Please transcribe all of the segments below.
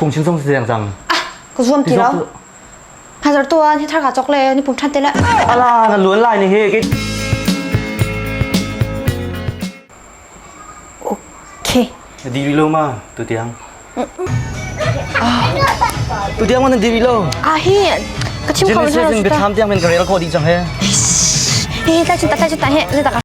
phung chim song si deng cang ka zuam ti lo hazar tuan hi thar ka chok le ni pung than te le ala na luan lai ni he ki okay di wi lo ma tu tiang tu tiang wannan di wi lo a hi ka chim ko na ka tham tiang men ka rel ko di chang he hi ta chinta ta chinta he le ta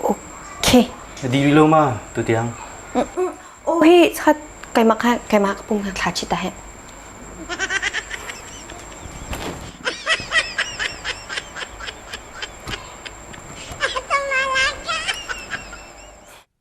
Okay. Na ding rih lo ma tutiang? Oh hi chat keimah kha keimah ka pum kha thla chi ta he.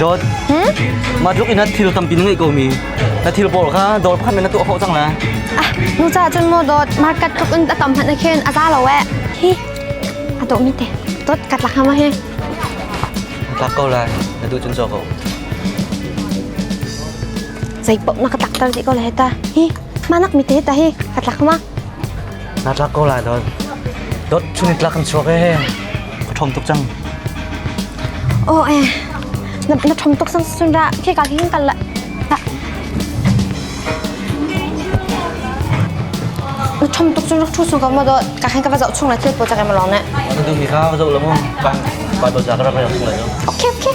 Dawt. Mah tluk in na thil tampi na ngeih ko mi. Na thil pawl kha dawr pakhat men na tuah khawh cang la. Ah, nu ca cun maw dawt, market tluk in a tam hmanh na khin, a za lo eh. Hi, a dawh mi te. Dawt, kat la hama he. Tlak ko la. Na tu cun so ko. Zei pop na ka tak tar ti ko le ta. Hi, manak mi te ta hi, kat la hama. Na tlak ko la dawt. Dawt, chuni tlak kan chuak eh. ka ṭhawm tuk cang. Aw e, na, na ṭhawm tuk sang sun ra, khi ka hin kal la. Na ṭhawm tuk cun rak ṭhu su ko mo do, ka hin ka va zoh chung la thil po cak em lawng ne. Ka duh mi kha ka zoh la mu, kan ba to cha ka rak rak chung la jo. Okay, okay.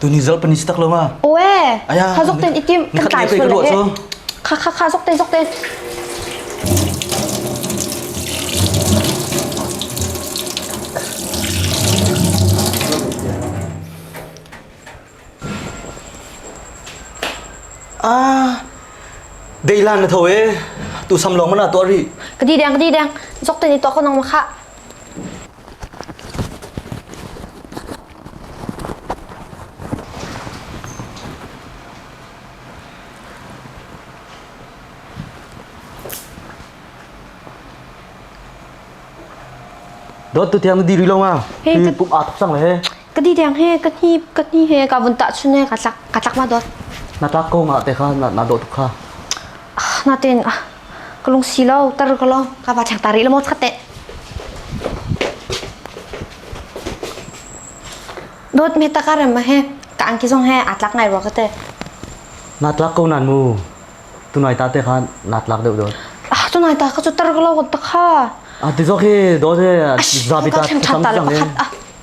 Tuni zal panis tak lo ma. Oe. Aya. Kha zok ten itim kan kai sual le. Kha kha kha zok ten zok ten. Ah, dailan na tho eh. Tu sam long mana to ri. Kadi dang kadi dang. Zok ten ito ako nang maka. Dot tu thiang diri lo nga. Hi pum aa thok sang le he. ka di deng he ka ni ka ni he ka vun ta chune ka tlak ka tlak ma dot na ta ko nga te kha na na do kha ah, na ten ah ka lung si lo tar ka lo ka ba chak tari lo mo khatte dot me ta karem ma he ka an ki zong he atlak ngai ro kate na tlak ko nan mu tu nai ta te kha na tlak deu dot ah tu nai ta ka chu tar ka lo ta kha ah ti zo khi do se za bi ta tham tham ta lo